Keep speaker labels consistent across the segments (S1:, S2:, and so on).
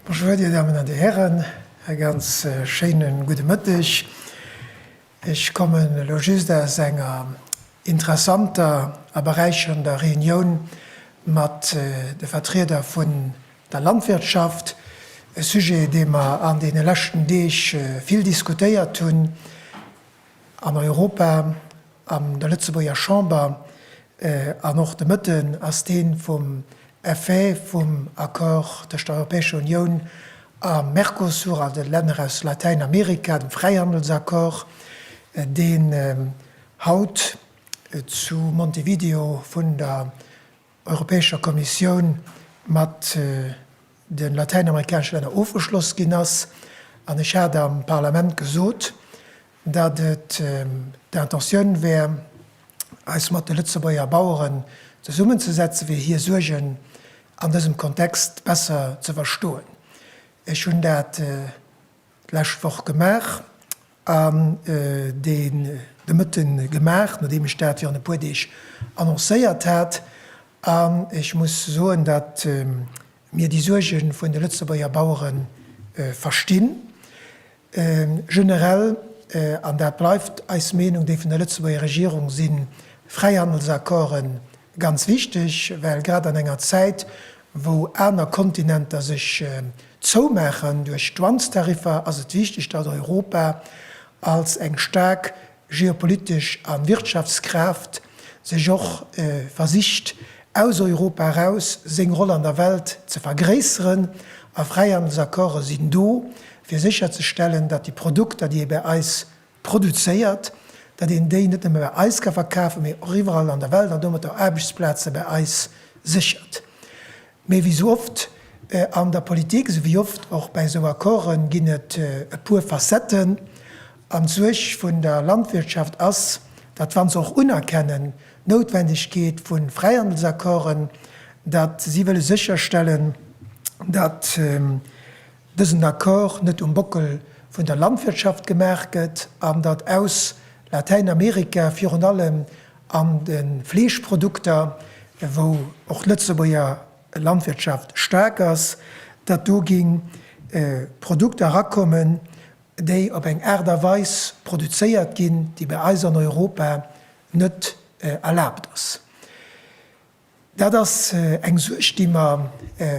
S1: Bonjour, Dir Damen an Dir Hären, e ganz schéine gudde Mëtteg. Ech kommen elo just aus enger interessanter a beräicherender Reunioun mat de Vertrieder vun der Landwirtschaft, e Sujet, dee mer an deene leschten Deeg vill diskutéiert hunn an Europa, an der Lëtzebuerger Chamber, an och de Mëtten ass dee vum Effet vum Accord tëscht der Europäescher Unioun a Mercosur an de Länner aus Latäinamerika, dem Fräihandelsaccord, deen haut zu Montevideo vun der Europäescher Kommissioun mat de latäinamerikanesche Länner ofgeschloss ginn ass. An ech hat am Parlament gesot, datt et d'Intentioun wär, eis mat de Lëtzebuerger Baueren zesummenzesetzen, fir hir Suergen an dësem Kontext besser ze verstoen. Ech hunn dat. d'lescht Woch gemaach an deen de Mëtte gemaach, nodeem ech dat virun e puer Deeg annoncéiert hat. An ech muss soen, datt mir déi Suerge vun de Lëtzebuerger Bauere verstinn. Generell, an dat bleift eis Meenung, déi vun der Lëtzebuerger Regierung, si Fräihandelsaccorden Ganz wichteg, well grad an enger Zäit, wou aner Kontinenter sech zoumaachen duerch d'Dwangs-Tariffer, ass et wichteg, datt Europa als eng staark geopolitesch a Wirtschaftskraaft sech och versicht, aus Europa eraus seng Roll an der Welt ze vergréisseren. A Fräihandelsaccorde sinn do, fir sécherzestellen, datt déi Produkter, déi ee bäi eis produzéiert, datt een déi net nëmme bei eis ka verkafen, mee och iwwerall an der Welt an domat och Aarbechtsplaze bei eis séchert. Mee wéi esou oft an der Politik, esou wéi oft och bei esou Accorden, ginn et e puer Facetten. An d'Suerg vun der Landwirtschaft ass, datt wa se och unerkennen d'Noutwendegkeet vu Fräihandelsaccorden, datt si wëlle sécherstellen, datt dësen Accord net um Bockel vun der Landwirtschaft gemaach gëtt an datt aus Latäinamerika, virun allem an de Fleeschprodukter, wou och d'Lëtzebuerger Landwirtschaft staark ass, datt do gi Produkter erakommen, déi op eng Aart a Weis produzéiert ginn, déi bei eis an Europa net erlaabt ass. Dat ass eng Suerg, déi mer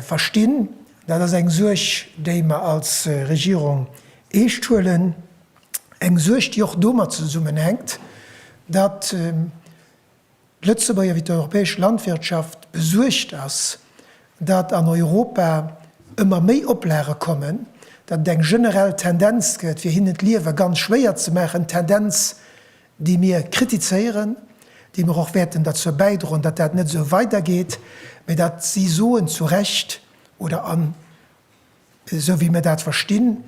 S1: verstinn. Dat ass eng Suerg, déi mer als Regierung eescht huelen. Eng Suerg, déi och domat zesummenhänkt, datt d'Lëtzebuerger wéi d'europäesch Landwirtschaft besuergt ass, datt an Europa ëmmer méi Oplage kommen, datt et eng generell Tendenz gëtt, fir hinnen d'Liewe ganz schwéier ze maachen, Tendenz, déi mir kritizéieren, déi mer och wäerten derzou bäidroen, datt dat net esou weidergeet, mä datt si soen, zu Recht, oder an esou wéi mir dat verstinn,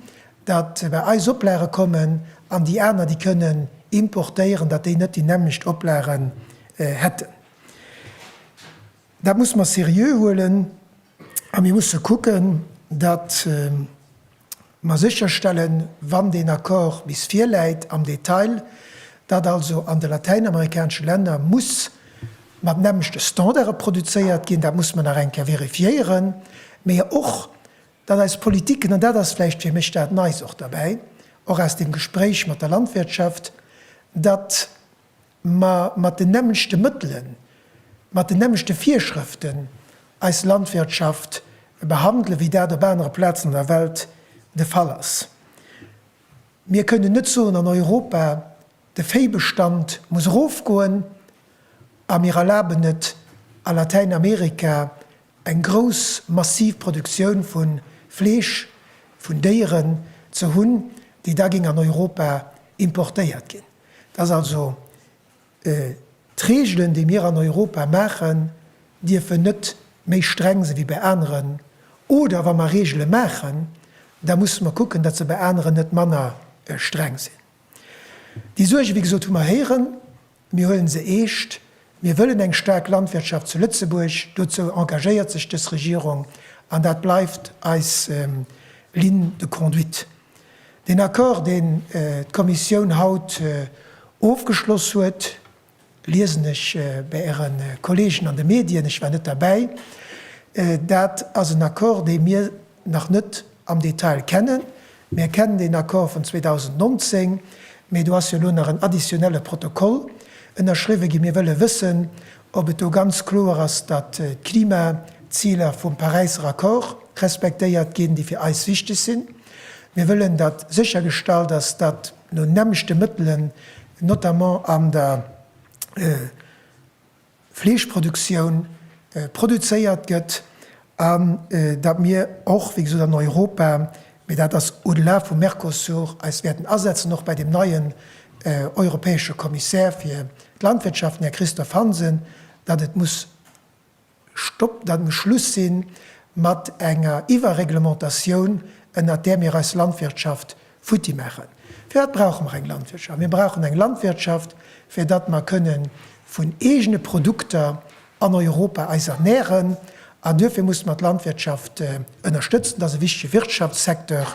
S1: datt bei eis Oplage kommen an déi aner, déi kënnen importéieren, datt déi net déi nämmlecht Oplagen hätten. Dat muss mer seriö huelen a mir musse kucken, datt mer sécherstellen, wann deen Accord bis virläit am Detail, datt also an de latäinamerikanesche Länner muss mat nämmlechte Standarde produzéiert ginn, dat muss mer nach eng Kéier vérifiéieren, mä och, datt eis Politiken, an dat ass vläicht fir mech dat Neis och derbäi, och aus dem Gespréich mat der Landwirtschaft, datt ma mat den nämmlechte Mëttelen, mat den nämmlechte Virschrëften eis Landwirtschaft behandelen, wéi dat op anere Plazen an der Welt de Fall ass. Mir kënnen net soen, an Europa, de Véibestand muss erofgoen, a mir erlaben et a Latäinamerika, eng grouss, massiv Produktioun vu Fleesch vun Déieren ze hunn, déi da géing an Europa importéiert ginn. dass also d'Regeln, déi mir an Europa maachen, dierfen net méi streng sinn, wéi bei aneren, oder wa mer Regele maachen, da musse mer kucken, dass se bei aneren net manner streng sinn. Déi Suerge, wéi gesot, hu mer héieren. Mir huele se eescht. Mir wëllen eng staark Landwirtschaft zu Lëtzebuerg. Dozou engagéiert sech dës Regierung, an dat bleift eis Ligne de conduite. Den Accord, deen d'Kommissioun haut ofgeschloss huet, liesen ech bei Äre Kolleegen an de Medien, ech war net derbäi, dat ass en Accord, dee mir nach net am Detail kennen. Mir kennen den Accord vun 2019, mä do ass jo elo nach en additionnelle Protokoll ënnerschriwwen ginn. Mir wëlle wëssen, ob et do ganz kloer ass, datt d'Klimaziler vum Paräisser Accord respektéiert ginn, déi fir eis wichteg sinn. Mir wëllen, datt séchergestallt ass, datt no nämmlechte Mëttelen, notamment an der Fleeschproduktioun, produzéiert gëtt An datt mir och, wéi gesot, an Europa, mee dat ass au-delà vum Mercosur, eis wäerten asetzen, och bei deem neien europäesche Kommissär fir d'Landwirtschaft, den Här Christophe Hansen, datt et muss Stopp, datt et muss Schluss si mat enger Iwwerreglementatioun, ënnert där mir eis Landwirtschaft futti maachen. Fir wat brauche mer eng Landwirtschaft? Mir brauchen eng Landwirtschaft, fir datt mer kënne vun eegene Produkter an Europa eis ernähren. An duerfir musse mer d'Landwirtschaft ënnerstëtzen. Dat ass e wichtige Wirtschaftssecteur.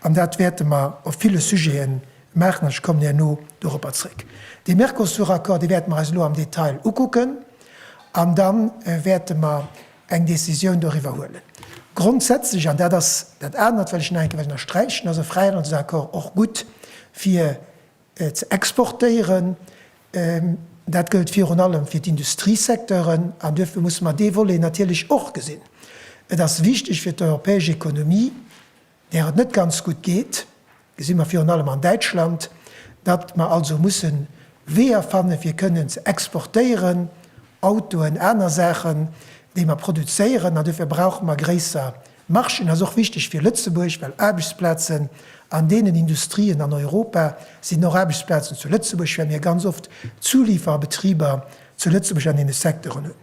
S1: An dat wäerte mer op ville Sujete maachen. An ech kommen herno doropper zréck. Dee Mercosur-Accord, dee wäerte mer eis elo am Detail ukucken. An da wäerte mer eng Décisioun doriwwer huelen. Grondsätzlech, an dat ass dat anert, wat ech nach eng Kéier wëll ënnersträichen, ass e Fräihandelsaccord och gutt fir ze exportéieren. Dat gëllt virun allem fir d'Industriesecteuren an duerfir musse mer dee Volet natierlech och gesinn. Et ass wichteg fir d'europäesch Ekonomie, där et net ganz gutt geet, gesi mer virun allem an Däitschland, datt mer also musse Weeër fanne fir kënnen ze exportéieren, Autoen, aner Saachen, déi mer produzéieren, an duerfir brauche mer gréisser Marchen. Ass och wichteg fir Lëtzebuerg, well Aarbechtsplazen an deenen Industrien an Europa sinn och Aarbechtsplazen zu Lëtzebuerg, well mir ganz oft Zuliferbetriber zu Lëtzebuerg an deene Secteuren hunn.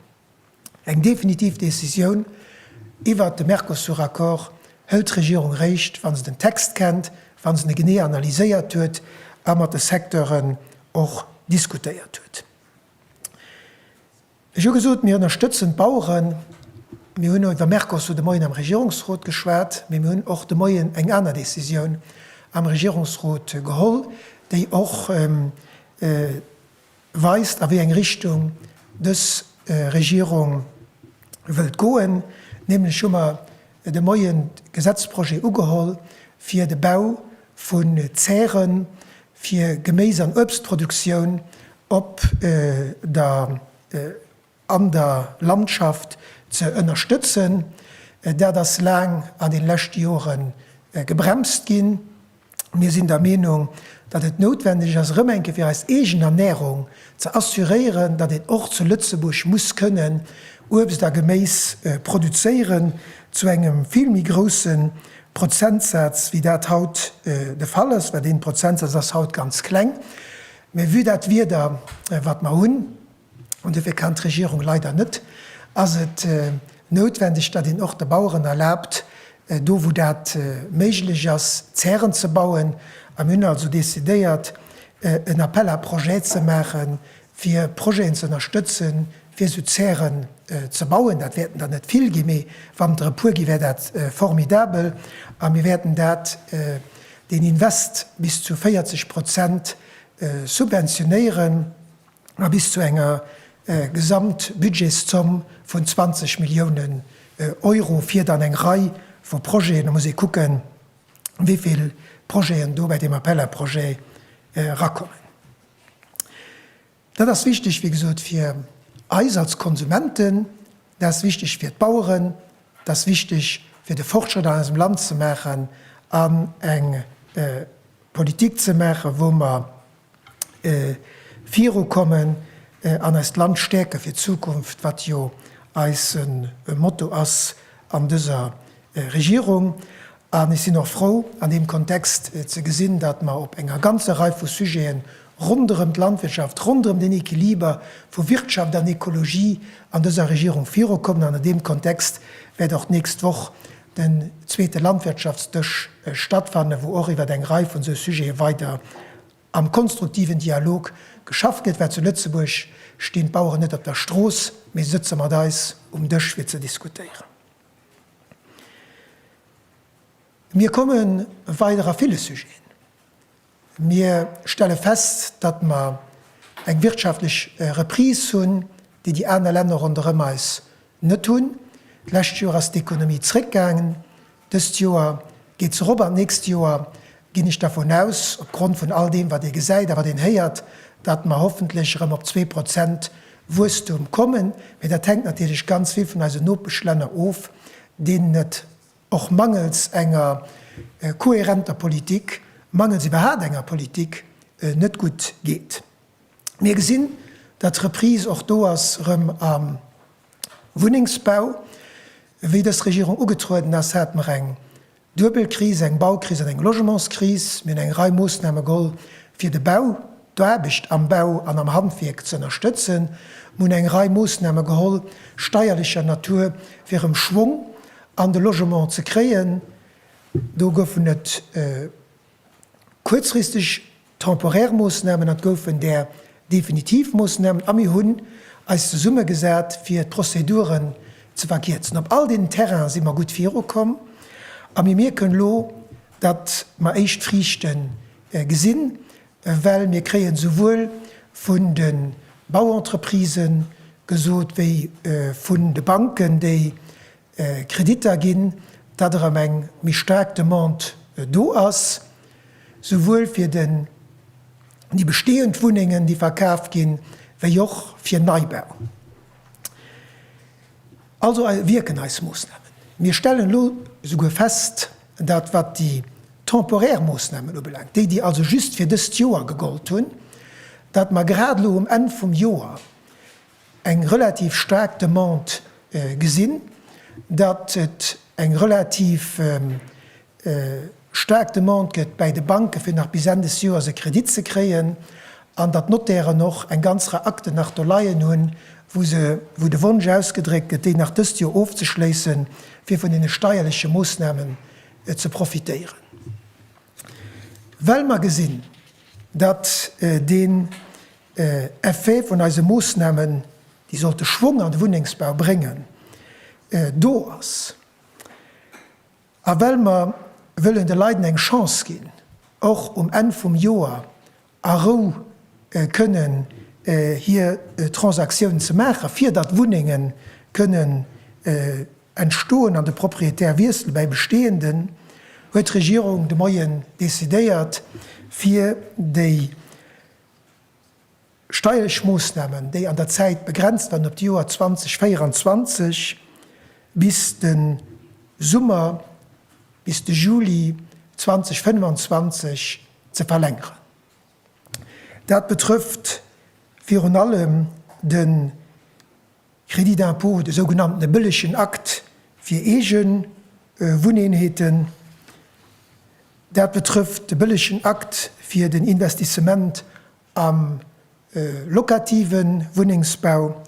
S1: Eng definitiv Decisioun iwwert de Mercosur-Accord hëlt d'Regierung réischt, wa se den Text kennt, wa se e genee analyséiert huet a mat de Secteuren och diskutéiert huet. Ech hu gesot, mir ënnerstëtzen d'Baueren. Mir hunn iwwer Mercosur de Moien am Regierungsrot geschwat, mee mir hunn och de Moien eng aner Decisioun am Regierungsrot geholl, déi och weist, a wéi eng Richtung dës Regierung wëllt goen. Nämlech hu mer de Moien d'Gesetzprojet ugeholl, fir de Bau vu Zäre fir Geméis an Uebstproduktioun op der an der Landschaft ze ënnerstëtzen. Dat ass laang an den leschte Jore gebremst ginn. Mir sinn der Meenung, datt et noutwendeg ass, erëm eng Kéier fir eis eegen Ernärung ze assuréieren, datt een och zu Lëtzebuerg muss kënnen Uebst a Geméis produzéieren, zu engem vill méi grousse Prozentsaz wéi dat haut de Fall ass, well dee Prozentsaz ass haut ganz kleng. Mä vue dat Wieder wat mer hunn, an dofir kann d'Regierung leider net, ass et noutwendeg, datt een och de Baueren erlaabt, do wou dat méiglech ass, Zären ze bauen. A mir hunn also decidéiert, en Appel à projets ze maache fir Projeten ze ënnerstëtzen, fir esou Zäre ze bauen. Dat wäerten der net vill ginn, mee wann der e puer ginn, wär dat formidabel. A mir wäerten dat, deen Invest bis zu 40 Prozent subventionéieren. a bis zu enger Gesamtbudgetszomm vun 20 Milliounen Euro fir dann eng Rei vu Projeten, da muss ee kucken, wéi vill Projeten do bei deem Appel à projets erakommen. Dat ass wichteg, wéi gesot, fir eis als Konsumenten, dat ass wichteg fir d'Baueren, dat ass wichteg fir de Fortschrëtt an eisem Land ze maachen an eng Politik ze maachen, wou mer viru kommen an eist Land stäerke fir d'Zukunft, wat jo eise Motto ass an dëser Regierung. An ech sinn och frou an deem Kontext ze gesinn, datt mer op enger ganzer Rei vu Sujete ronderëm d'Landwirtschaft, ronderëm den Equiliber vu Wirtschaft an Ekologie an dëser Regierung viru kommen. An an deem Kontext wäert och d'nächst Woch den zweete Landwirtschaftsdësch stattfannen, wou och iwwert eng Rei vun esou Sujete weider am konstruktiven Dialog geschafft gëtt, well zu Lëtzebuerg stinn d'Baueren net op der Strooss, mee se sëtze mat eis um Dësch fir ze diskutéieren. Mir kommen weider a ville Sujeten. Mir stelle fest, datt mer eng wirtschaftlech Reprise hunn, déi déi aner Länner ronderëm eis net hunn. D'lescht Joer ass d'Ekonomie zréckgaangen, dëst Joer geet se erop an d'nächst Joer ginn ech dervun aus, opgrond vun all deem wat ee gesäit a wat een héiert, datt mer hoffentlech erëm op zwee Prozent Wuesstum kommen. Mee dat hänkt natierlech ganz vill vun eisen Nopeschlänner of, deenen et Och mangels enger kohärenter Politik, mangels iwwerhaapt enger Politik, net gutt geet. Mir gesinn, datt d'Reprise och do ass erëm am Wunnengsbau. Wéi dës Regierung ugetrueden ass, hat mer eng duebel Kris, eng Baukris an eng Logementskris. Mir hunn eng Rei Moossname geholl, fir de Bau, d'Aarbecht am Bau an am Handwierk ze ënnerstëtzen. Mir hunn eng Rei Moossname geholl, steierlecher Natur, fir erëm Schwong An de Logement ze kréien, do goufen et kuerzfristeg, temporaire Moossnamen an et goufen där definitiv Moossnamen. A mir hunn eis zesummegesat, fir d'Prozeduren ze verkierzen. Op all deenen Terrainen si mer gutt virukomm a mir mierken elo, datt mer éischt Friichte gesinn. Well mir kréien souwuel vun de Bauentreprisë gesot wéi vun de Banken, déi Kreditter ginn, datt erëm eng méi staark Demande do ass, souwuel fir déi bestehend Wunnengen, déi verkaf ginn, wéi och fir Neibau. Also wierken eis Moossnamen. Mir stellen elo souguer fest, Dat wat déi temporär Moossnamen ubelaangt, déi déi also just fir dëst Joer gegollt hunn, datt mer grad elo um Enn vum Joer eng relativ staark Demande gesinn, datt et eng relativ staark Demande gëtt bäi de Banke fir nach bis Enn des Joers e Kredit ze kréien, an datt d'Notairen och eng ganz Rei Akten nach do leien hunn, wou se, wou de Wonsch ausgedréckt gëtt, déi nach dëst Joer ofzeschléissen, fir vun deene steierleche Moossnamen ze profitéieren. Well mer gesinn, datt den Effet vun eise Moossnamen, déi sollte Schwong an de Wunnengsbau bréngen, do ass, A well mer wëllen de Leiden eng Chance ginn, och um Enn vum Joer a Rou kënnen hir Transaktioun ze maachen, fir datt Wunnenge kënnen entstoen an de Propriétaire wiessel bäi Bestehenden, huet d'Regierung de Moien decidéiert, fir déi. Steierlech Moossnamen, déi an der Zäit begrenzt waren op d'Joer 2024, bis de Summer, bis de Juli 2025 ze verlängeren. Dat betrëfft virun allem de Crédit d'impôt, de sougenannte bëllegen Akt fir eege Wunneenheeten. Dat betrëfft de bëllegen Akt fir den Investissement Am locative Wunnengsbau,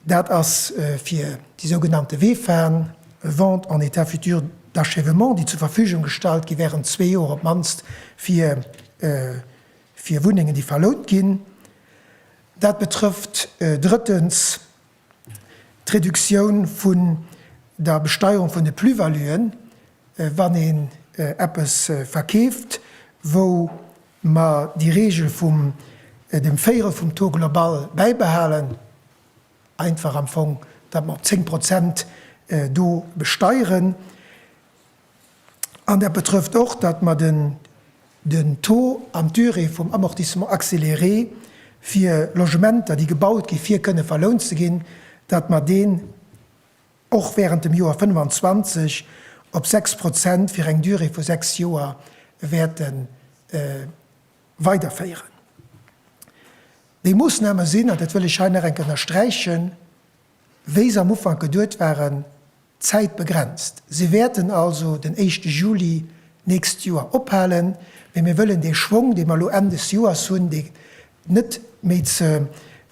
S1: dat ass fir déi sougenannte VEFAen, Ventes en état futur d'achèvement, déi zur Verfügung gestallt gi während zwee Joer op d'mannst fir Wunnengen, déi verlount ginn. Dat betrëfft drëttens. D'Reduktioun vun der Besteierung vun de Plus-valuen, wann een eppes verkeeft, wou mer déi Regel vum dem Véierel vum Taux global bäibehalen, einfach am Fong, datt mer op 10 Prozent do besteieren. An dat betrëfft och, datt mer den Taux an d'Durée vum Amortissement accéléré fir Logementer, déi gebaut ginn, fir kënne verlount ze ginn, datt mer deen och während dem Joer 25 op 6 Prozent fir eng Durée vu sechs Joer wäerte weiderféieren. Déi Moossname sinn, an dat wëll ech hei nach eng Kéier ënnersträichen, Wéi se am Ufank geduet waren, zäitbegrenzt. Se wäerten also den éischte Juli nächst Joer ophalen, mee mir wëllen dee Schwong, dee mer elo Enn des Joers hunn, dee net méi ze,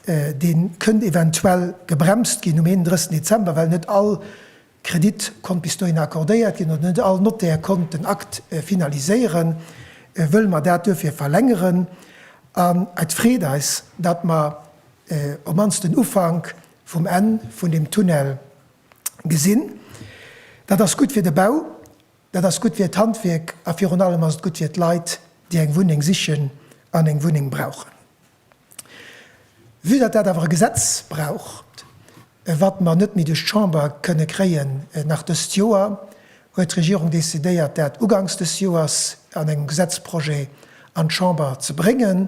S1: dee kënnt eventuell gebremst ginn um 31 Dezember, well net all Kredit konnt bis dohin accordéiert ginn, oder net all Notaire konnt den Akt finaliséieren, wëlle mer dat duerfir verlängeren. An et freet eis, datt mer op mannst den Ufank vum Enn vun deem Tunnel gesinn. Dat ass gutt fir de Bau, dat ass gutt fir d'Handwierk a virun allem ass et gutt fir d'Leit, déi eng Wunneng sichen an eng Wunneng brauchen. Vue datt dat awer e Gesetz braucht, wat mer net méi duerch d'Chamber kënne kréien, nach dëst Joer, huet d'Regierung decidéiert, dat ugangs des Joers an engem Gesetzprojet an d'Chamber ze bréngen,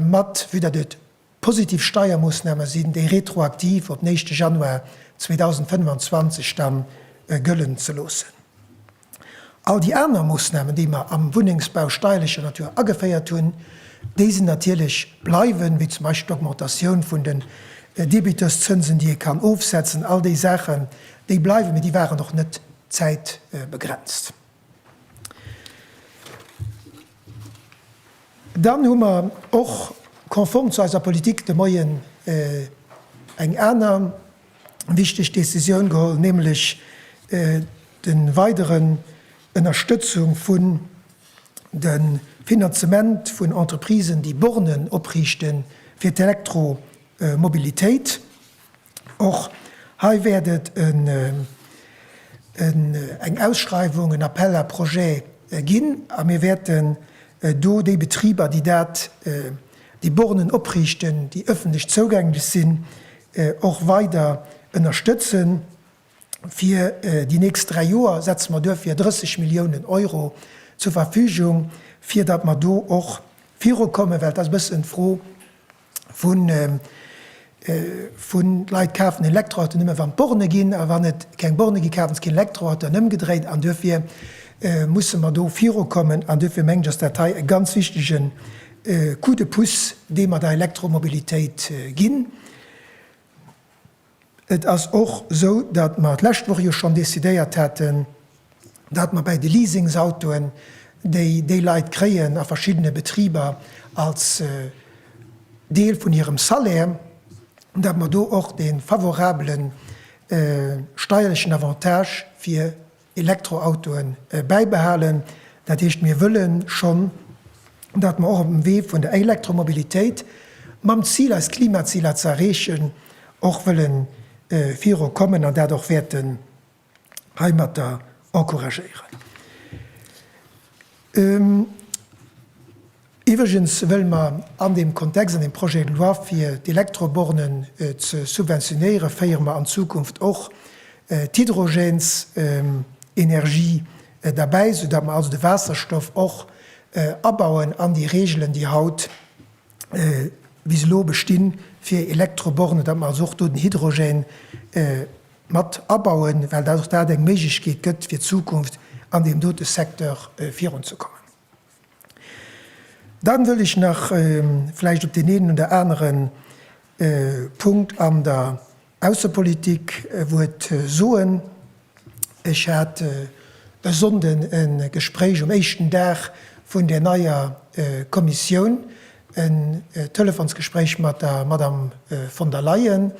S1: mat, vue datt et positiv Steiermoosname sinn, déi retroaktiv op den éischte Januar 2025 da gëllen ze loossen. All déi aner Moossnamen, déi mer am Wunnengsbau steierlecher Natur ageféiert hunn, déi sinn natierlech bleiwen, wéi zum Beispill d'Augmentatioun vun den Debiteurszënsen, déi ee kann ofsetzen. All déi Saachen, déi bleiwen, mee déi waren och net zäitbegrenzt. Dann hu mer och, konform zu eiser Politik de Moien, eng aner, wichteg Decisioun geholl, nämlech de weideren Ënnerstëtzung vun de Finanzement vun Entreprisen, déi Bornen opriichten fir d'Elektromobilitéit. Och hei wäert et eng Ausschreiwung, en Appel à projets ginn a mir wäerten do déi Betriber, déi dat déi Bornen opriichten, déi ëffentlech zougänglech sinn, och weider ënnerstëtzen. Fir déi nächst dräi Joer setze mer duerfir 30 Milliounen Euro zur Verfügung, fir datt mer do och virukommen, well et ass e bëssen d'Fro vun Vun Leit kafen Elektroauto nëmme wann d'Borne ginn a wann et keng Borne gi kafen se keen Elektroauto an ëmgedréit an duerfir musse mer do virukommen an duerfir mengen ech ass dat hei e ganz wichtige Coup de pouce dee mer der Elektromobilitéit ginn. Et ass och esou, datt mer d'lescht Woch jo schonn decidéiert haten, dat mer bäi de Leasingsautoen, déi déi Leit kréien a verschiddene Betriber als Deel vun hirem Salaire, dat mer do och dee favorabele steierlechen Avantage fir Elektroautoe bäibehalen. Dat heescht, mir wëlle schonn, dat mer och op dem Wee vun der Elektromobilitéit, mam Zil eis Klimaziler ze erreechen, och wëlle viru kommen an dat och wäerte heimatter encouragéieren. Iwwregens wëlle mer an deem Kontext, an deem Projet de loi, fir d'Elektrobornen ze subventionéieren, féiere mer an Zukunft och d'Hydrogensenergie derbäi, esoudatt mer also de Waasserstoff och abauen an déi Regeln, déi haut bis elo bestinn, fir Elektrobornen, datt mer also och do den Hydrogène mat abauen, well och dat eng Méiglechkeet gëtt fir d'Zukunft an deem dote Secteur virunzekommen. Dann wëll ech nach vläicht op deen eenen oder anere Punkt an der Aussepolitik e Wuert soen. Ech hat e Sonnden e Gespréich um éischten Dag vun där neier Kommissioun, en Telefonsgespréich mat der Madame von der Leyen,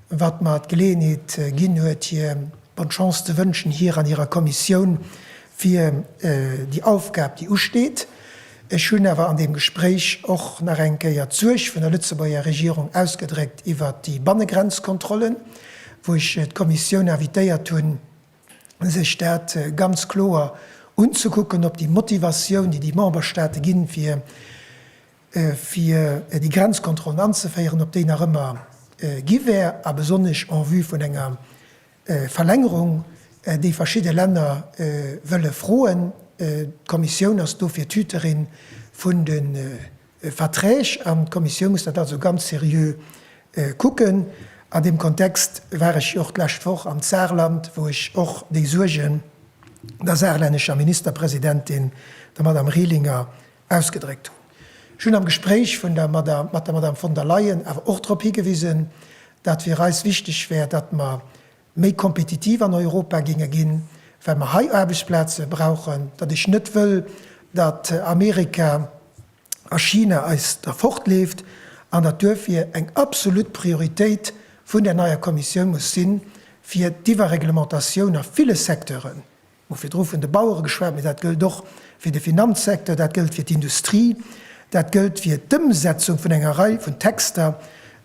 S1: wat mer d'Geleeënheet ginn huet, hir Bonne Chance ze wënschen, hir an hirer Kommissioun, fir déi Aufgab, déi usteet. Ech hunn awer an deem Gespréich och nach eng Kéier d'Suerg vun der Lëtzebuerger Regierung ausgedréckt iwwert déi Bannegrenzkontrollen, wou ech d'Kommissioun invitéiert hunn, sech dat ganz kloer unzekucken, ob déi Motivatioun, déi déi Memberstaate ginn, fir fir déi Grenzkontrollen anzeféieren, op déi nach ëmmer gi wär, a besonnesch en vue vun enger Verlängerung, déi verschidde Länner wëlle froen. D'Kommissioun ass dofir d'Hüterin vun de Verträg an d'Kommissioun muss dat also ganz seriö kucken. An deem Kontext war ech jo och d'lescht Woch am Saarland, wou ech och déi Suergen der saarlännescher Ministerpresidentin, der Madame Rehlinger, ausgedréckt hunn. Ech hunn am Gespréich vun der Madame, mat der Madame von der Leyen awer och drop higewisen, datt fir eis wichteg wär, datt mer méi kompetitiv an Europa géinge ginn, well mer hei Aarbechtsplaze brauchen, datt ech net wëll, datt Amerika a China eis derfortleeft an datt duerfir eng absolut Prioritéit vun där neier Kommissioun muss sinn, fir d'Iwwerreglementatioun a ville Secteuren Hu virdru vun de Bauere geschwat, mee dat gëllt och fir de Finanzsecteur, dat gëllt fir d'Industrie, dat gëllt fir d'Ëmsetzung vun enger Rei vun Texter,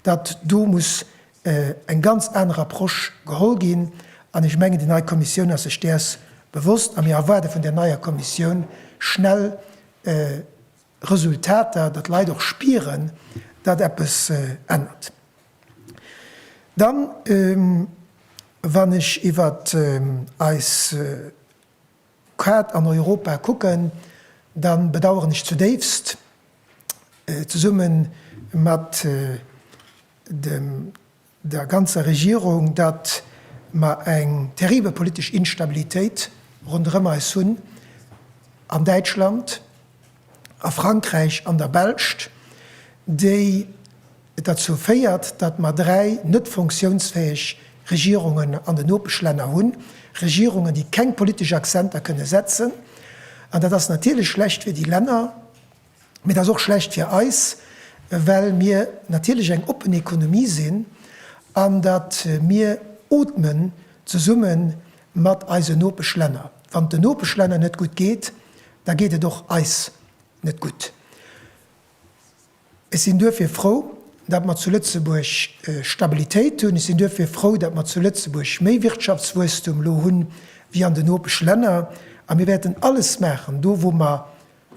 S1: datt do muss eng ganz aner Approche geholl ginn. An ech mengen, déi nei Kommissioun ass sech däers bewosst a mir erwaarde vun där neier Kommissioun schnell Resultater, datt d'Leit och spieren, datt eppes ännert. Dann, wann ech iwwer eis Kaart an Europa kucken, da bedauern ech zudéifst, zesumme mat der ganzer Regierung, datt mer eng terribel politesch Instabilitéit ronderëm eis hunn, an Däitschland, a Frankräich, an der Belscht, déi, Et derzou féiert, datt mer dräi net funktiounsfäeg Regierungen an den Nopeschlänner hunn, Regierungen, déi keng politesch Accenter kënne setzen. An dat ass natierlech schlecht fir déi Länner, mee et ass och schlecht fir eis, well mir natierlech eng oppen Ekonomie sinn an datt mir ootmen zesumme mat eisen Nopeschlänner. Wann et den Nopeschlänner net gutt geet, da geet et och eis net gutt. Ech sinn duerfir frou, datt mer zu Lëtzebuerg Stabilitéit hunn. Ech sinn duerfir frou, datt mer zu Lëtzebuerg méi Wirtschaftswuesstum elo hu wéi an den Nopeschlänner. A mir wäerten alles maachen, do wou mer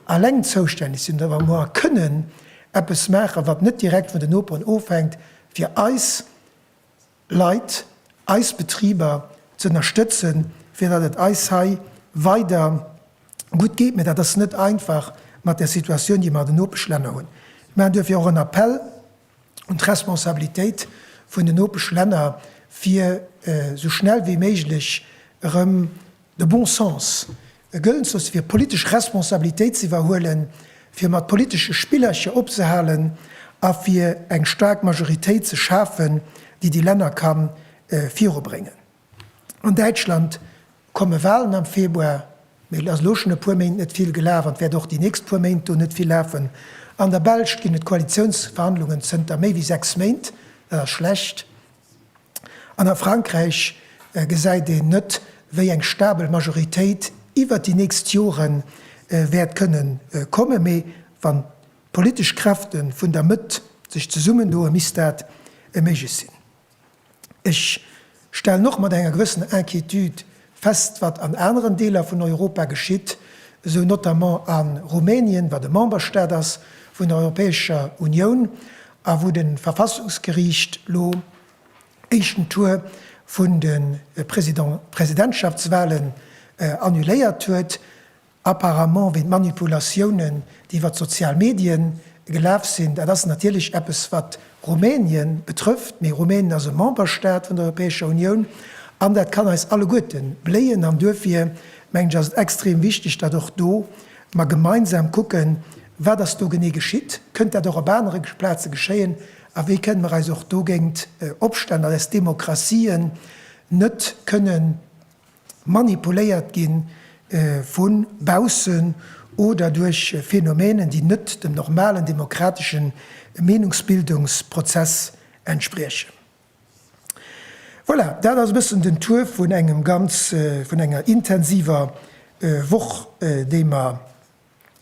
S1: alleng zoustänneg sinn oder wou mer kënnen eppes maachen, wat net direkt vun den Noperen ofhänkt, fir eis Leit, eis Betriber ze ënnerstëtzen, fir datt et eis hei weider gutt geet. Mä dat ass net einfach mat der Situatioun, déi mer an den Nopeschlänner hunn. Mir maachen duerfir och en Appell un d'Responsabilitéit vun den Nopeschlänner, fir esou schnell wéi méiglech erëm de bon sens E gëllen soss fir politesch Responsabilitéit z'iwwerhuelen, fir mat politesche Spillercher opzehalen a fir eng staark Majoritéit ze schafen, déi déi Länner ka virubréngen. An Däitschland komme Walen am Februar, mee et ass elo schonn e puer Méint net vill gelaf an et wäert och déi nächst puer Méint do net vill lafen. An der Belsch ginn et Koalitiounsverhandlungen zënter méi wéi sechs Méint. Dat ass schlecht, An a Frankräich gesäit een net, wéi eng stabel Majoritéit iwwert déi nächst Jore wäert kënne kommen. Mee wann d'politesch Kräfte vun der Mëtt sech zesummendoe misst dat méiglech sinn. Ech stellen och mat enger gewëssener Inquiétude Fest wat an aneren Deeler vun Europa geschitt, esou notamment a Rumänien, wat e Memberstaat ass vun der Europäescher Unioun a wou de Verfassungsgeriicht lo éischten Tour vun de Presidentschaftswahlen annuléiert huet. Apparemment wéi d'Manipulatiounen, déi iwwer d'sozial Medien gelaf sinn. Dat ass natierlech eppes, wat Rumänien betrëfft, mee Rumänien ass e Memberstaat vun der Europäescher Unioun an dat kann eis alleguerte bléien. An duerfir, mengen ech, ass et extrem wichteg, datt och do mer gemeinsam kucken, Wat ass do genee geschitt? Kënnt dat och op anere Plaze geschéien? A wéi kënnen mer eis och dogéint opstellen, datt eis Demokratien net kënnen, manipuléiert gi vu baussen oder duerch Phänomenen, déi net dem normalen demokratesche Meenungsbildungsprozess entspriechen. Voilà, dat ass e bëssen den Tour vun engem ganz, vun enger intensiver Woch, déi mer,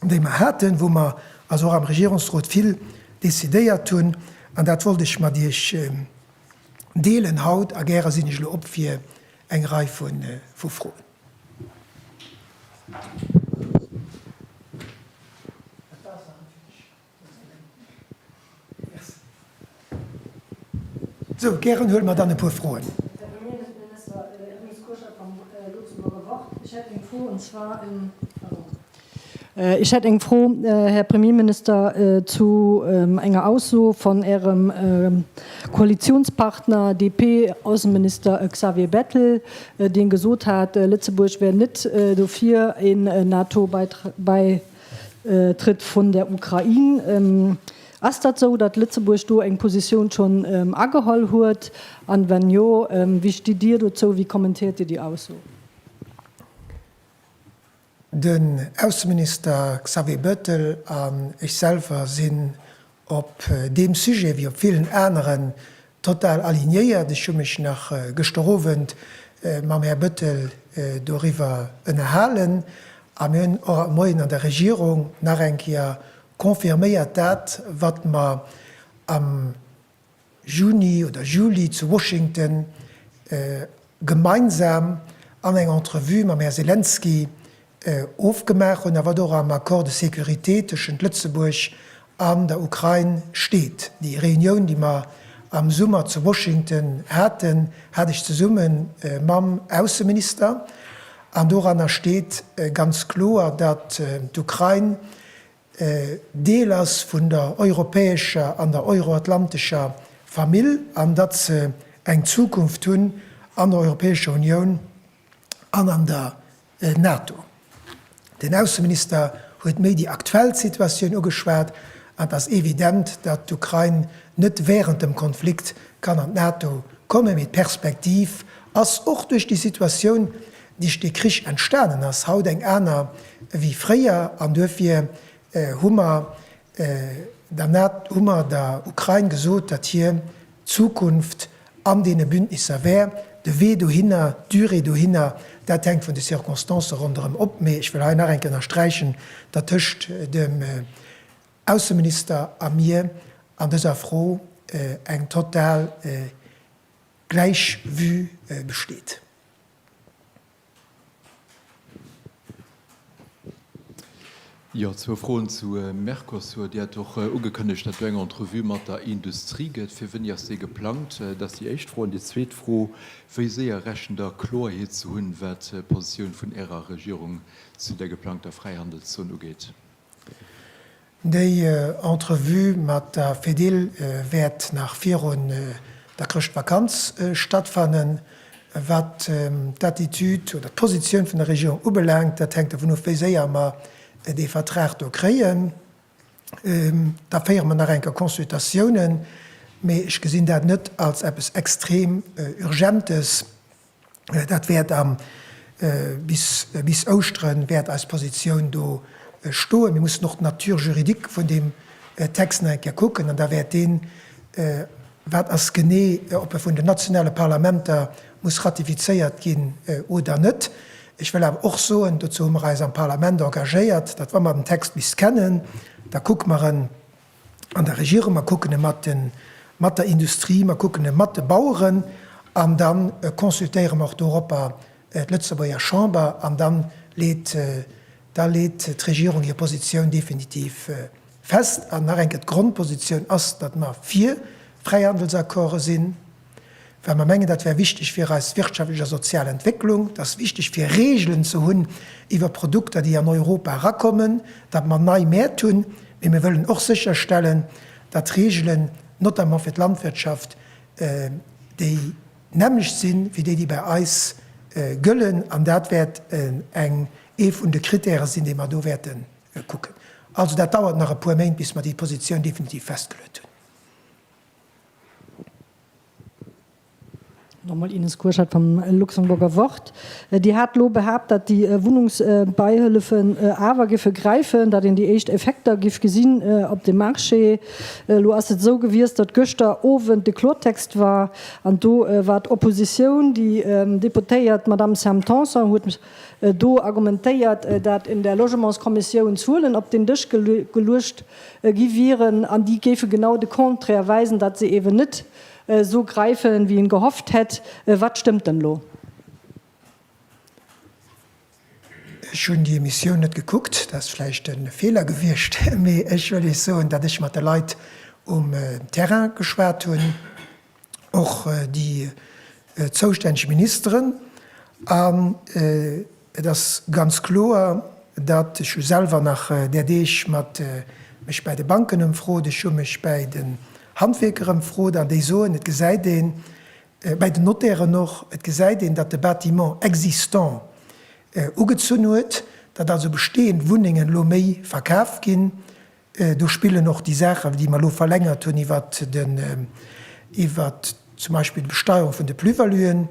S1: déi mer haten, wou mer also och am Regierungsrot vill decidéiert hunn, an dat wollt ech mat Iech deelen haut, a gäre sinn ech elo op fir eng Rei vu Froen. Sou, gären huele mer dann e puer Froen. Ech hätt eng Fro, Här Premierminister, zu enger Ausso vun Ärem Koalitionspartner DP-Ausseminister Xavier Bettel, dee gesot hat, Lëtzebuerg wär net dofir, een NATO-Beitritt Trëtt vun der Ukrain. Ass dat esou, datt Lëtzebuerg do eng Positioun schonn ageholl huet? An wann jo, wéi stitt Dir dozou? Wéi kommentéiert Dir déi Ausso? Den Ausseminister Xavier Bettel an ech selwer sinn Op deem Sujet wéi op villen aneren total alignéiert. Ech hu mech nach gëschter Owend mam Här Bëttel doriwwer ënnerhalen a mir hunn och haut Moien an der Regierung nach eng Kéier confirméiert dat, wat mer am. Juni oder Juli zu Washington gemeinsam an eng Entrevue mam Här Selenskyj ofgemaach hunn a wat och am Accord de sécurité tëschent Lëtzebuerg an der Ukrain steet. Déi Reunioun, déi mer am Summer zu Washington haten, hat ech zesumme mam Ausseminister an doranner steet ganz kloer, datt d'Ukrain Deel ass vun der europäescher an der euroatlantescher Famill an datt se eng Zukunft hunn an der Europäescher Unioun an an der NATO. Den Ausseminister huet méi déi aktuell Situatioun ugeschwat an et ass evident, datt d'Ukrain net während dem Konflikt kann an d'NATO kommen, mee d'Perspektiv ass och duerch déi Situatioun, Duerch dee Krich entstanen ass haut eng aner ewéi fréier an duerfir hu mer der Nat, hu mer der Ukrain gesot, datt hir Zukunft an deene Bündnisser wär. De Wee dohinner, d'Durée dohinner, dat hänkt vun de Circonstancë ronderëm op. Mee ech wëll hei nach eng Kéier ënnersträichen, datt tëscht dem Ausseminister a mir an dëser Fro eng total gläich Vue besteet. Jo, zwou Froen zu Mercosur. Dir hat och ugekënnegt, datt do eng Entrevue mat der Industrie gëtt. Fir wéini ass déi geplangt? Dat ass déi éischt Fro. An déi zweet Fro, Wéi séier rechent Der Kloerheet ze hunn, wat d'Positioun vun Ärer Regierung zu där geplangter Fräihandelszon ugeet? Déi Entrevue mat der Fedil wäert nach virun der Chrëschtvakanz stattfannen. Wat d'Attitude oder d'Positioun vun der Regierung ubelaangt, dat hänkt dovun of, wéi séier mer dee Vertrag do kréien. Da féiere mer nach eng Kéier Consultatiounen, mee ech gesinn dat net als eppes extrem Urgentes. Dat wäert am, bis, bis Ouschteren wäert eis Positioun do stoen. Mir mussen och d'Nature juridique vun deem Text nach eng Kéier kucken an da wäert deen, wat ass genee, ob e vun den nationale Parlamenter muss ratifizéiert ginn oder net. Ech wëll awer och soen, dozou hu mer eis am Parlament engagéiert, datt wa mer den Text bis kennen, da kucke mer en, an der Regierung, mer kucken e mat de mat der Industrie, mer kucken e mat de Baueren an da consultéiere mer och doropper d'Lëtzebuerger Chamber an da leet da leet d'Regierung hir Positioun definitiv fest. An nach eng Kéier, D'Grondpositioun ass, datt mer fir Fräihandelsaccorde sinn. well mer mengen, dat wär wichteg fir eis wirtschaftlech a sozial Entwécklung, et ass wichteg fir Regeln ze hunn iwwer Produkter, déi an Europa erakommen, datt mer nei Mäert hunn, mee mir wëllen och sécherstellen, datt d'Regeln, notamment fir d'Landwirtschaft, déi nämmlecht si wéi déi, déi bei eis gëllen, an dat wäert ee vun de Kritäre sinn, déi mer do wäerte kucken. Also dat dauert nach e puer Méint, bis mer déi Positioun definitiv festgeluet hunn. Nach emol Ines Kurschat vum Luxemburger Wort. Dir hat elo behaapt, datt déi Wunnungsbeihëllefen awer géife gräifen, datt een déi éischt Effekter géif gesinn op de Marché. Elo ass et esou gewiescht, datt gëschter Owend de Klortext war an do war d'Oppositioun, déi Deputéiert Madamm Sam Tanson huet do argumentéiert, datt un der Logementskommissioun Zuelen op den Dësch geluecht gi wieren, an déi géife genau de Contraire weisen, datt se eeben net esou gräifen, wéi een gehofft hätt. Wat stëmmt dann elo? Ech hunn déi Emissioun net gekuckt, dat ass vläicht e Feeler gewiescht, mee ech wëll Iech soen, datt ech mat de Leit um Terrain geschwat hunn, och déi zoustänneg Ministeren. An et ass ganz kloer, datt ech hu selwer nach där Deeg mat mech bäi de Banken ëmfrot, ech hu mech bäi den Handwierker ëmfrot an déi soen, et gesäit een, bäi den Notairen och, et gesäit een, datt de Bâtiment existant ugezunn huet, datt also bestehend Wunnengen elo méi verkaf ginn, Do spillen och déi Saachen, déi mer elo verlängert hunn iwwert den, iwwert zum Beispill d'Besteuerung vun de Plus-valuën.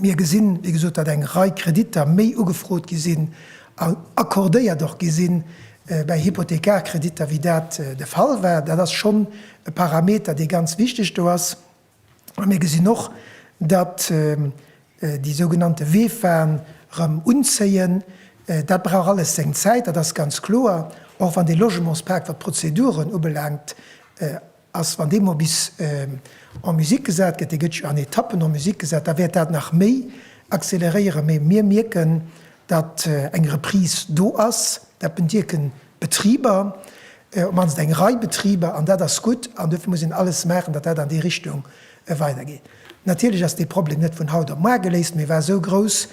S1: Mir gesinn, wéi gesot, datt eng Rei Kreditter méi ugefrot gi sinn a accordéiert och gi sinn bei Hypothekarkreditter, wéi dat de Fall war. Dat ass schonn e Parameter, dee ganz wichteg do ass. A mir gesinn och, datt déi sougenannte Weefaen erëm unzéien. Dat brauch alles seng Zäit, dat ass ganz kloer, och wann dee Logementspak, wat d'Prozeduren ubelaangt, ass. Wann dee mol bis en musique gesat gëtt, dee gëtt jo an Etappen en musique gesat, da wäert dat nach méi acceleréieren. Mee mir mierken, datt eng Reprise do ass, dat bedierken d'Betriber, op d'mannst eng Rei Betriber, an dat ass gutt, an dofir muss een alles maachen, datt dat an déi Richtung weidergeet. Natierlech ass dee Problem net vun haut op muar geléist, mee war esou grouss,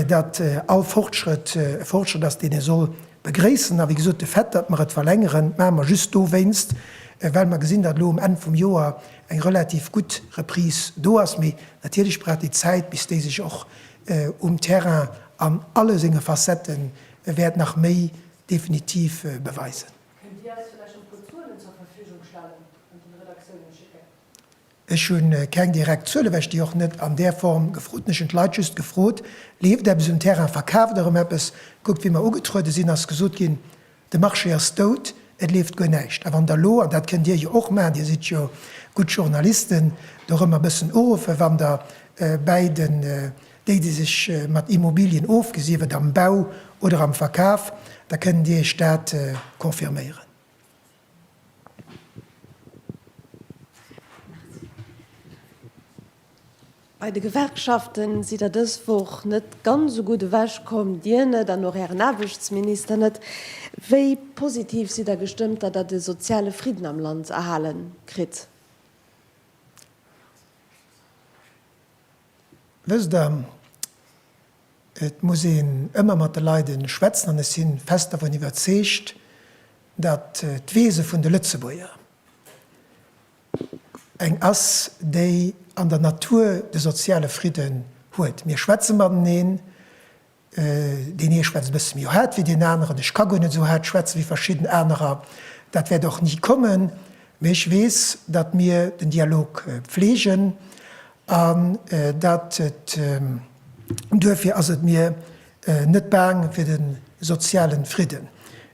S1: datt all Fortschrëtt e Fortschrëtt ass, deen ee soll begréissen. A wéi gesot, de Fait, datt mer et verlängeren, maache mer just dowéinst, well mer gesinn, datt elo um Enn vum Joer eng relativ gutt Reprise do ass, mee natierlech brauch déi Zäit, bis déi sech och um Terrain an alle senge Facette wäert nach méi definitiv beweisen. Kënnt Dir eis vläicht e puer Zuelen zur Verfügung stellen an den Redaktiounen schécken? Ech hu keng direkt Zuelen, well ech déi och net an där Form gefrot hunn. Ech hunn d'Leit just gefrot, Leeft eppes um Terrain? Verkaaft Der erëm eppes? Kuckt, wéi mer ugetruede sinn, ass gesot ginn, De Marché ass dout, et leeft guer näischt. A wann Der elo, an dat kënnt Dir jo och maachen, Dir sidd jo gutt Journalisten, do erëm e bëssen uruffen, wann Der bäi den, déi, déi sech mat Immobilien ofginn, sief et am Bau oder am Verkaf, da kënnen déi Iech dat confirméieren. Bei de Gewerkschaften sidd Der dës Woch net ganz esou gutt ewech komm, Dir net an och Ären Aarbechtsminister net. Wéi positiv sidd Der gestëmmt, datt Der de soziale Fridden am Land erhale kritt? Wësst Der, et muss een ëmmer mat de Leide schwätzen an ech si fest dervun iwwerzeegt, datt d'Wese vun de Lëtzebuerger, eng ass, déi an der Natur de soziale Fridden huet, mir schwätze mateneen, deen ee schwätzt e bësse méi haart wéi deen aneren, ech ka guer net esou haart schwätze wéi verschidden anerer, dat wäert och ni kommen, mee ech weess, datt mir den Dialog pflegen an datt et, duerfir ass et mir net baang fir de soziale Fridden.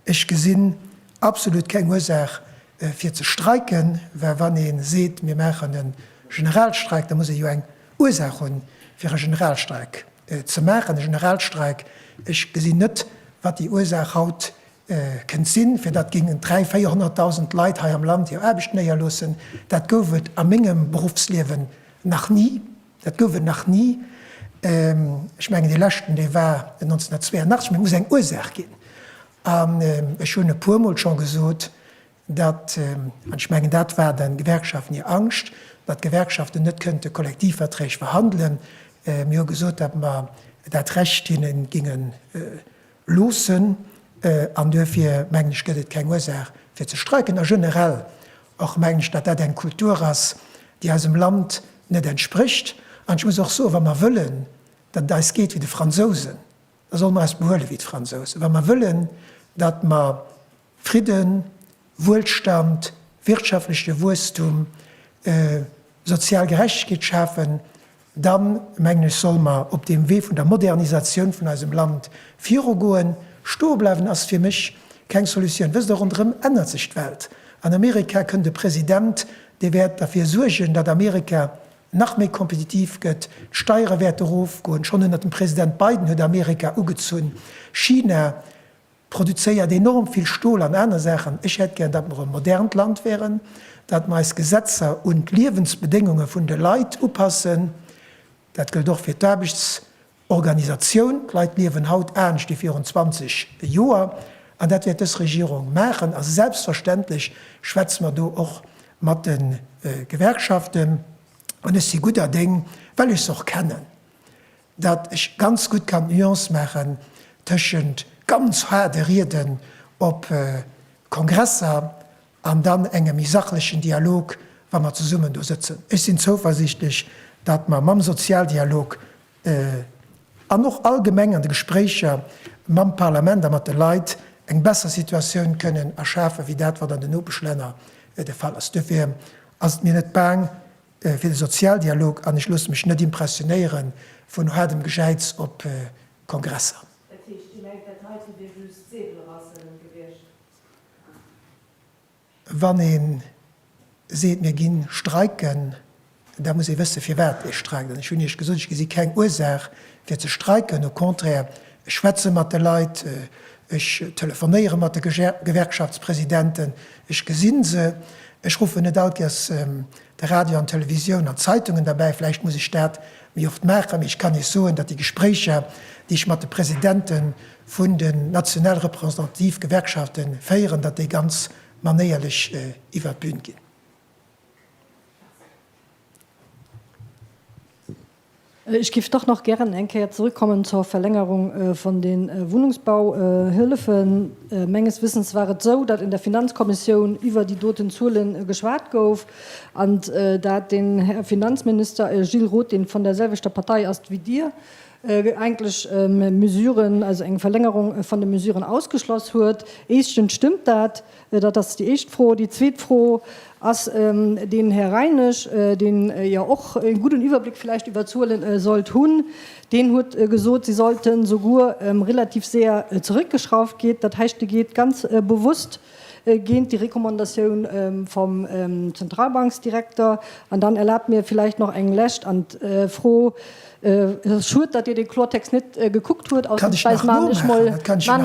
S1: Ech gesinn absolut keng Ursaach, Fir ze streiken, well wann ee seet, mir maachen e Generalstreik, da muss ee jo eng Ursaach hunn, fir e Generalstreik ze maachen. E Generalstreik, ech gesinn net, wat déi Ursaach haut kënnt sinn, fir datt géingen 300, 400.000 Leit hei am Land hir Aarbecht néierloossen. Dat gouf et a mengem Beruffsliewen nach ni. Dat gouf et nach ni. Ech mengen, dee leschten, dee war 1982. Mee et muss eng Ursaach ginn. An ech hunn e puermol scho gesot, datt, an ech mengen dat war de Gewerkschaften hir Angscht, datt d'Gewerkschaften net kënnte Kollektivverträg verhandelen. Mir hu gesot, datt mer dat Recht hinne ginge loossen. An duerfir mengen ech, gëtt et keng Ursaach fir ze streiken. A generell och mengen ech, datt dat eng Kultur ass, déi eisem Land net entsprécht. An ech muss och soen, wa mer wëllen, datt et eis geet wéi de Fransousen, Da solle mer eis behuele wéi d'Fransousen, wa mer wëllen, datt mer Fridden, Wuelstand, wirtschaftleche Wuesstum, sozial Gerechtegkeet schafen, da mengen ech, solle mer op deem Wee vun der Modernisatioun vun eisem Land virugoen. Stoe bleiwen ass fir mech keng Solutioun. Wësst Der, ronderëm ännert sech d'Welt. An Amerika kënnt e President, dee wäert derfir suergen, datt Amerika Nach méi kompetitiv gëtt, d'Steiere wäerte rofgoen. Schonn ënnert dem President Biden huet Amerika ugezunn, China produzéiert enorm vill Stol an aner Saachen. Ech hätt gär, datt mer e modernt Land wäeren, datt mer eis Gesetzer un d'Liewensbedéngunge vun de Leit upassen. Dat gëllt och fir d'Aarbechts Organisatioun. D'Leit liewen haut anescht wéi virun 20 Joer, an dat wäert dës Regierung maachen. A selbstverständlech schwätze mer do och mat de Gewerkschaften. An ech si gudder Déng, well ech se och kennen, datt ech ganz gutt kann d'Nuance maachen tëschent ganz haarde Rieden op Kongresser an dann engem méi sachlechen Dialog, wa mer zesummen do sëtzen. Ech sinn zouversichtlech, datt mer mam Sozialdialog an och allgemeng an de Gespréicher mam Parlament a mat de Leit eng besser Situatioun kënnen erschafen, wéi dat wat an den Nopeschlänner de Fall ass. Duerfir ass et mir net baang fir de Sozialdialog an ech loosse mech net impressionéiere vun haardem Gejäiz op Kongresser. Dat heescht, Dir mengt dat heite wier just Säbelraselen gewiescht? Wann ee seet, mir gi streiken, da muss ee wësse firwat ee streikt. An ech hunn Iech gesot, ech gesi keng Ursaach fir ze streiken. Au contraire, ech schwätze mat de Leit, ech telefonéiere mat de Gewerkschaftspresidenten, ech gesi se, ech ruffen net all d'Kes De Radio an d'Televisioun an d'Zeitungen derbäi, vläicht muss ech dat méi oft maachen, mee ech kann Iech soen, datt déi Gespréicher, déi ech mat de Presidente vun den national representative Gewerkschafte féieren, datt déi ganz manéierlech iwwert d'Bün ginn. Ech géif dach nach gären eng Kéier zrëckkommen zur Verlängerung vun de Wunnungsbauhëllefen. Menges Wëssens war et esou, datt an der Finanzkommissioun iwwer déi doten Zuele geschwat gouf an datt den Här Finanzminister Gilles Roth, dee vun där selwechter Partei ass wéi Dir, eigentlech Mesuren, also eng Verlängerung vun de Mesuren ausgeschloss huet. Éischtens stëmmt dat. Dat ass déi éischt Fro. Déi zweet Fro ass, Den Här Reinesch, deen jo och e gudden Iwwerbléck vläicht iwwer d'Zuelen sollt hunn, deen huet gesot, se sollten souguer relativ sehr zeréckgeschrauft ginn. Dat heischt, de geet ganz bewusst géint déi Recommandatioun vum Zentralbanksdirekter. An dann erlaabt mir vläicht nach eng lescht an d'Fro, Et ass schued, datt Dir dee Klortext net gekuckt hutt. Ausnamsweis maan ech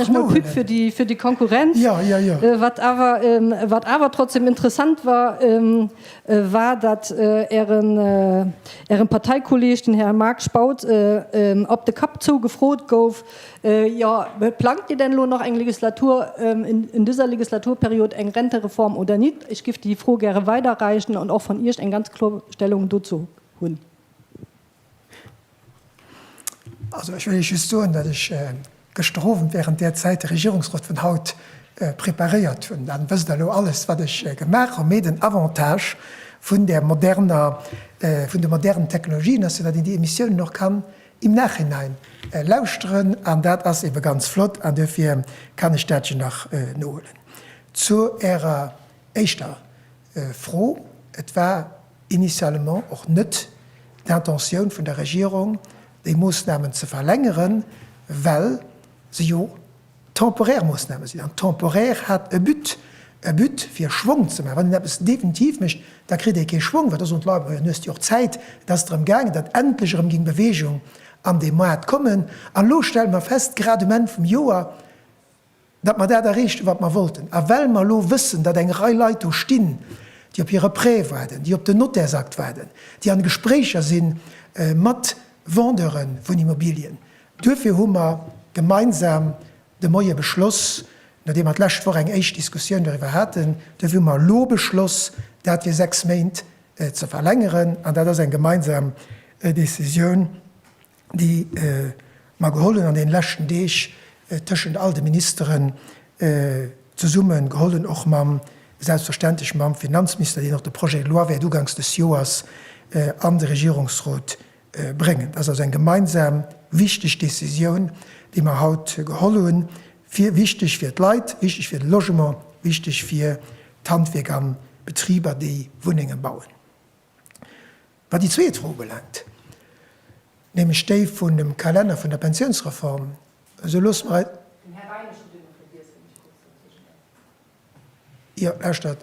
S1: mol Pub fir déi fir déi Konkurrenz. Wat awer wat awer trotzdem interessant war, war datt Ären Ären Parteikolleeg, den Här Marc Spautz, op de Kapp zou gefrot gouf, Jo, plangt Dir denn elo nach eng Legislatur, in dieser Legislaturperiod eng Rentereform oder nicht? Ech géif déi Fro gäre weiderreichen an och vun Iech eng ganz klor Stellung dozou hunn. Also ech wëll Iech just soen, datt ech gëschter Owend während där Zäit de Regierungsrot vun haut preparéiert hunn. Dann wësst Der elo alles, wat ech gemaach hunn. Mee den Avantage vun där moderner, vun de modernen Technologien ass jo, datt een déi Emissiounen och kann im Nachhinein lauschteren. An dat ass ebe ganz flott. An duerfir kann ech dat jo nach nohuelen. Zu Ärer éischter. Fro, Et war initialement och net d'Intentioun vun der Regierung, déi Moosnamen ze verlängeren, well se jo temporär Moosname sinn. An temporär hat e But, e But, fir Schwong ze maachen. Wann een eppes definitiv mécht, da kritt ee kee Schwong. Well da soen d'Leit, Majo, nu hues de jo och Zäit. Et ass drëm gaangen, datt endlech erëm géing Bewegung an dee Moart kommen. An elo stelle mer fest, grad um Enn vum Joer, datt mer dat erreechten, wat mer wollten. A well mer elo wëssen, datt eng Rei Leit do stinn, déi op hire Prêt waarden, déi op den Notairsakt waarden, déi an Gespréicher si mat Vendeure vun Immobilien, duerfir hu mer gemeinsam de Moie beschloss, nodeem mer d'lescht Woch eng éischt Diskussioun doriwwer haten, duerfir hu mer elo beschloss, dat fir sechs Méint ze verlängeren. An dat ass eng gemeinsam Décisioun, déi mer geholl hunn an deene leschten Deeg tëschent all de Ministeren zesumme geholl hunn, och mam, selbstverständlech mam Finanzminister, deen och de Projet de loi wäert ugangs des Joers an de Regierungsrot bréngen. Dat ass also eng gemeinsam wichteg Décisioun, déi mer haut geholl hunn, fir, wichteg fir d'Leit, wichteg fir de Logement, wichteg fir d'Handwierk an d'Betriber, déi Wunnenge bauen. Wat déi zweet Fro ubelaangt, nämlech déi vun dem Kalenner vun der Pensiounsreform, esou loosse mer eis, Den Här Beinig huet elo vergiess, wann ech kuerz dozwischen däerf. Jo, lauschtert,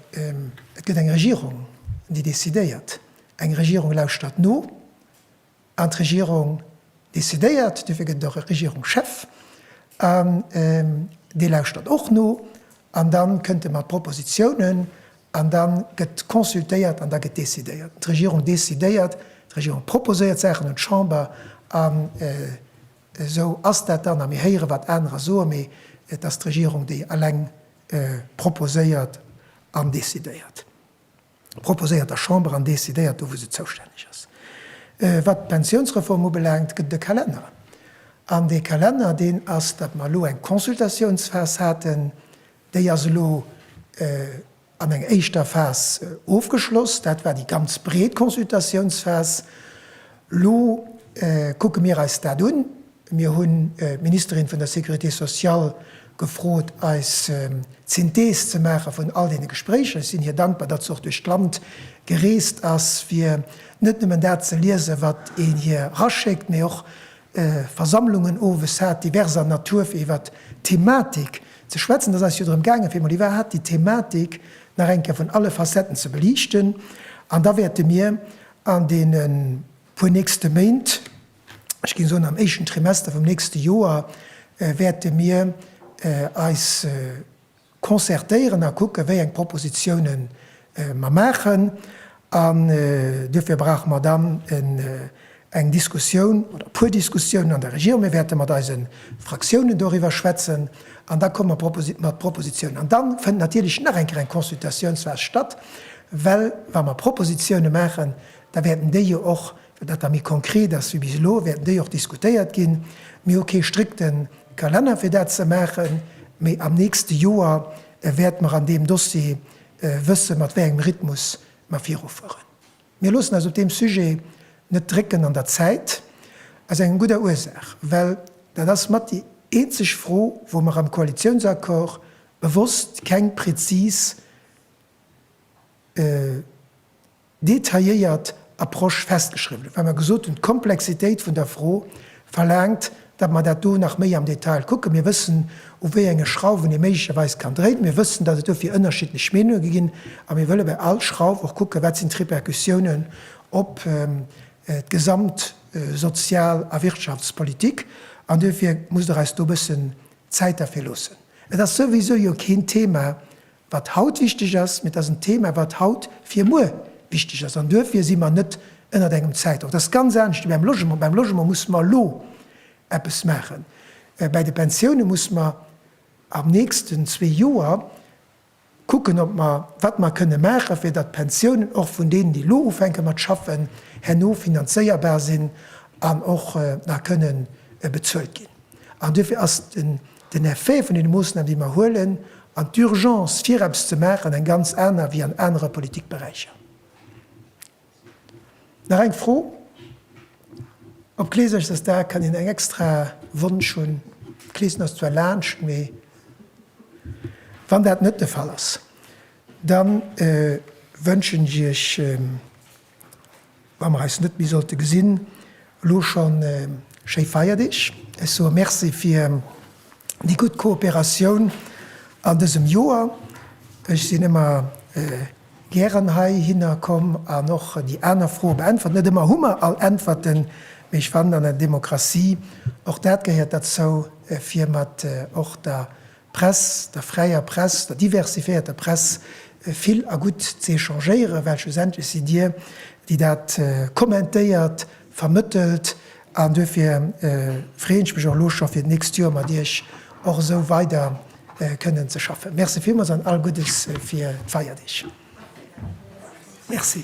S1: et gëtt eng Regierung, déi décidéiert. Eng Regierung lauschtert no an d'Regierung décidéiert. Duerfir gëtt et och e Regierungschef an dee lauschtert och no an da kënnt e mat Propositionen An da gëtt consultéiert an da gëtt decidéiert. D'Regierung decidéiert, d'Regierung proposéiert d'Saachen un d'Chamber an esou ass dat dann. A mir héieren, wat anerer soen, mee et ass d'Regierung, déi eleng proposéiert an decidéiert. Proposéiert der Chamber an decidéiert do, wou se zoustänneg ass. Wat d'Pensiounsreform ubelaangt, gëtt et e Kalenner. An dee Kalenner, deen ass, datt mer elo eng Consultatiounsphas haten, Déi ass elo an eng éischter Phas ofgeschloss. Dat war déi ganz breet Consultatiounsphas. Elo kucke mir eis dat un. Mir hunn d'Ministerin vun der Sécurité sociale gefrot, eis d'Synthees ze maache vun all deene Gespréicher. Ech sinn hir dankbar, datt se och duerch d'Land gereest ass, fir net nëmmen dat ze liesen, wat een hir eraschéckt, mee och Versammlungen owes hat, diverser Natur, fir iwwert d'Thematik ze schwätzen. Et ass eis jo drëm gaangen, fir emol iwwerhaapt déi Thematik nach eng Kéier vun alle Facetten ze beliichten. An da wäerte mir an deene puer nächste Méint, ech géing soen am éischten Trimester vum nächste Joer, wäerte mir eis, Concertéieren a kucken, wéi eng Propositionen mer maachen. An duerfir brauche mer dann eng Diskussioun oder e puer Diskussiounen an der Regierung. Mir wäerte mat eise Fraktiounen doriwwer schwätzen an da komme mer mat Propositionen. An da fënnt natierlech nach eng Kéier eng Consultationsphas statt, well wa mer Propositionen maachen, da wäerten déi jo och Dat da méi konkret ass wéi bis elo, wäerten déi och diskutéiert ginn. Mir hu kee strikte Kalenner fir dat ze maachen, mee am nächste Joer wäerte mer an deem Dossier wëssen, mat wéi engem Rhythmus mer virufueren. Mir loossen eis op deem Sujet net drécken an der Zäit, aus enger gudder Ursaach, well dat ass mat déi eenzeg Fro, wou mer am Koalitiounsaccord bewosst keng präzis. detailléiert Approche festgeschriwwen hunn, well mer gesot hunn, d'Komplexitéit vun der Fro verlaangt, datt mer dat do nach méi am Detail kucken. Mir wëssen, u wéi enge Schrauwen ee méiglecherweis kann dréinen. Mir wëssen, datt et dofir ënnerschiddlech Meenunge gi ginn. A mir wëlle bei all Schrauf och kucken, wat sinn d'Repercussiounen op d'gesamt Sozial a Wirtschaftspolitik. An dofir musst Der eis do e bëssen Zäit derfir loossen. Et ass souwisou jo keen Thema Wat haut wichteg ass, mee et ass en Thema, wat haut fir muer wichteg ass. An duerfir si mer net ënnert engem Zäitdrock. Dat ass ganz anescht wéi beim Logement. Beim Logement musse mer elo eppes maachen. Bei de Pensioune musse mer am nächsten zwee Joer kucken, ob mer, wat mer kënne maachen, fir datt d'Pensiounen och vun deenen, déi elo ufänke mat schaffen, herno finanzéierbar sinn an och nach kënne bezuelt ginn. An duerfir ass den Den Effet vun deene Moossnamen, déi mer huelen, an d'Urgence, fir eppes ze maachen, eng ganz aner wéi an anere Politikberäicher. Nach eng Fro, Op Kleesch ass dat da, kann een eng extra Wunsch hunn? Kleeschen ass zwar laanscht, mee wann dat net de Fall ass, da wënschen ech Iech, Wa mer eis net méi sollte gesinn, elo schonn schéi Feierdeeg. Ech soe Merci fir déi gutt Kooperatioun an dësem Joer. Ech sinn ëmmer gären heihinner komm an och déi aner Froe beäntwert. Net ëmmer hu mer all Äntwerten, mee ech fannen an der Demokratie, och dat gehéiert derzou, fir mat och der Press, der fräier Press, der diversifiéierter Press vill a gutt ze échangéieren, well schlussendlech sidd Dir, déi dat kommentéiert, vermëttelt an duerfir freeën ech mech och elo scho fir d'nächst Joer mat Iech och esou weider kënnen ze schaffen. Merci villmools an all Guddes fir d'Feierdeeg. Merci.